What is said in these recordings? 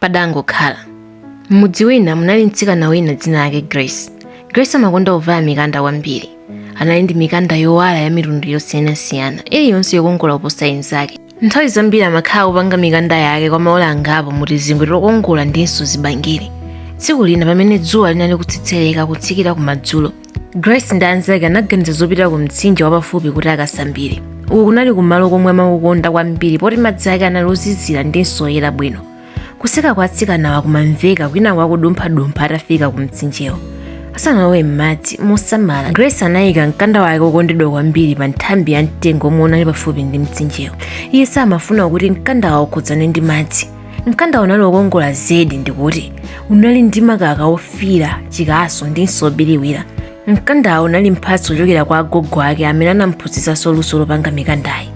padangokhala m'mudzi wina munali mtsikana wina dzina lake grace grace amakonda kuvala mikanda kwambiri anali ndi mikanda yowala ya mitundu yosiyanasiyana iliyonse yokongola kuposa inzake nthawi zambiri amakhala akupanga mikanda yake kwa maola angapo mu tizingwe tokongola ndinso zibangiri tsiku lina pamene dzuwa linali kutsetsereka kutsikira kumadzulo grace ndi anzake anaganiza zopita ku mtsinje wapafupi kuti akasambire uku kunali kumalo komwe amakukonda kwambiri poti madzi ake anali ozizira ndinso oyera bwino kuseka kwa atsikanawa kumamveka kwinaku akudumphadumpha atafika ku mtsinjewo asanalowe m'madzi mosamala grace anayika mkanda wake wokondedwa kwambiri pa nthambi ya mtengo omwe unali pafupi ndi mtsinjewo iye samafuna kuti mkandawo ukhudzane ndi madzi mkandawo unali wokongola zedi ndikuti unali ndi makala ofiira chikaso ndinso obiriwira mkandawo unali mphatso kuchokera kwa agogo ake amene anamphunzitsanso luso lopanga mikandayi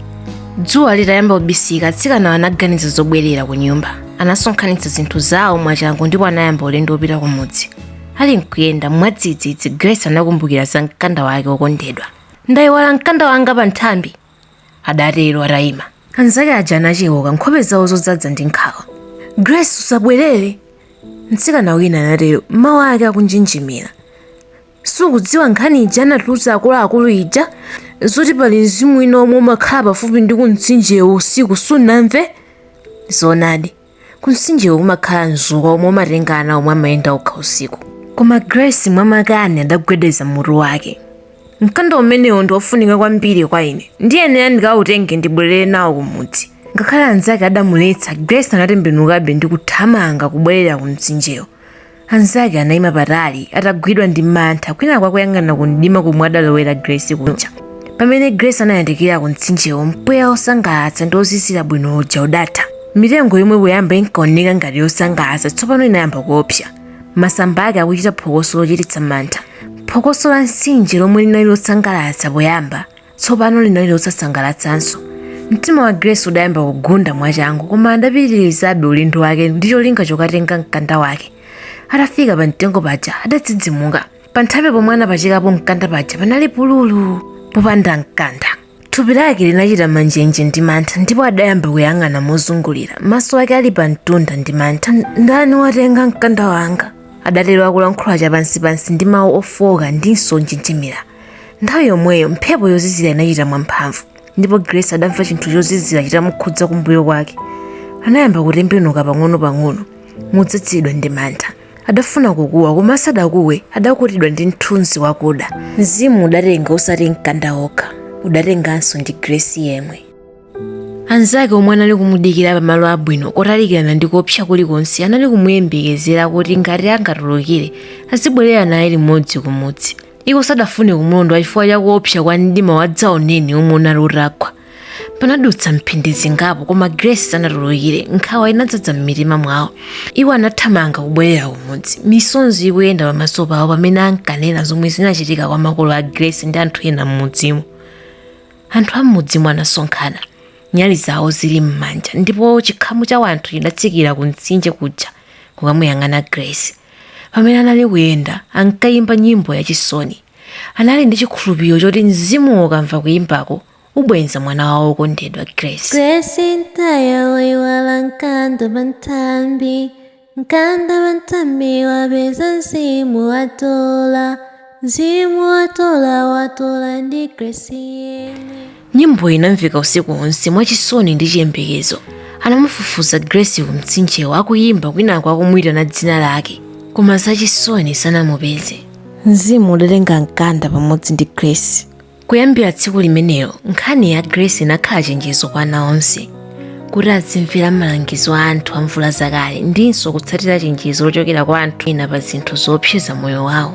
dzuwa litayamba kubisala atsikanawo anaganiza zobwerera ku nyumba anasonkhanitsa zinthu zawo mwachangu ndipo anayamba ulendo wopita ku mudzi ali nkuyenda mwadzidzidzi grace anakumbukira za mkanda wake wokondedwa ndayiwala mkanda wanga pa nthambi adatero atayima anzake aja anacheuka nkhope zawo zodzadza ndi nkhawa grace usabwerere mtsikana wina anatero mawu ake akunjenjemera sukudziwa nkhani ija anatiuza akuluakulu ija zoti pali mzimu wina omwe umakhala pafupi ndi kumtsinjewo usiku sunamve zoonadi kumtsinjewo kumakhala mzukwa omwe umatenga ana omwe amayenda okha usiku koma grace mwamakani adagwedeza mutu wake mkanda umenewo ndi wofunika kwambiri kwa ine ndiyenera ndikawutenge ndibwerere nawo kumudzi ngakhale anzake adamuletsa grace anatembenukabe ndi kuthamanga kubwerera ku mtsinjewo Anzake anaima patali atagwidwa ndi mantha kwinaku akuyang'ana ku mdima komwe adalowera Grace kuja. Pamene Grace anayandikira ku mtsinjewo mpweya wosangalatsa ndi wozizira bwino uja udatha. Mitengo yomwe poyamba inkaoneka ngati yosangalatsa tsopano inayamba kuopsa. Masamba ake akuchita phokoso lochititsa mantha. Phokoso la mtsinje lomwe linali losangalatsa poyamba tsopano linali losasangalatsanso mtima wa grace udayamba kugunda mwachangu koma adapitirizabe ulendo wake ndi cholinga chokatenga mkanda wake atafika pa mtengo paja adadzidzimuka pa nthambi pomwe anapachikapo mkanda paja panali pululu popanda mkanda thupi lake linachita manjenje ndi mantha ndipo adayamba kuyang'ana mozungulira maso ake ali pa mtunda ndi mantha ndani watenga mkanda wanga adatero akulankhula chapansipansi ndi mawu ofooka ndinso onjenjemera nthawi yomweyo mphepo yozizira inachita mwamphamvu ndipo grace adamva chinthu chozizira chitamukhudza kumbuyo kwake anayamba kutembenuka pang'ono-pang'ono modzadzidwa ndi mantha adafuna kukuwa koma asadakuwe adakutidwa ndi mthunzi wakuda mzimu udatenga osati mkanda okha udatenganso ndi grace yemwe anzake omwe anali kumudikira pamalo abwino kotalikirana ndi koopsa kulikonse anali kumuyembekezera kuti ngati angatulukire azibwerera naye limodzi kumudzi Iwo sadafune kumlondola chifukwa cha kuopsa kwa mdima wadzaoneni womwe unali utagwa. Panadutsa mphindi zingapo koma Grace sanatulukire. Nkhawa inadzadza m'mitima mwawo. Iwo anathamanga kubwerera kumudzi, misonzi ikuyenda pamaso pawo pamene akanena zomwe zinachitika kwa makolo a Grace ndi anthu ena m'mudzimo. Anthu a m'mudzimo anasonkhana, nyali zawo zili m'manja ndipo chikhamu cha anthu chidatsikira kumtsinje kuja kukamuyang'ana Grace. pamene anali kuyenda ankayimba nyimbo yachisoni anali ndi chikhulupiriro choti mzimuwo ukamva kuyimbako ubwenza mwana wawo wokondedwa grace Grace mtaya waiwala mkanda panthambi mkanda panthambi wapeza mzimu watola mzimu watola watola ndi Grace yemwe Nyimboyi inamveka usiku wonse mwachisoni ndi chiyembekezo. Anamufufuza Grace ku mtsinjewo akuyimba kwinako akumuyitana dzina lake, koma zachisoni sanamupeze. Mzimu udatenga mkanda pamodzi ndi Grace. Kuyambira tsiku limenelo, nkhani ya Grace inakhala chenjezo kwa ana onse kuti azimvera malangizo a anthu amvula zakale ndinso kutsatira chenjezo lochokera kwa anthu ena pa zinthu zoopseza moyo wawo.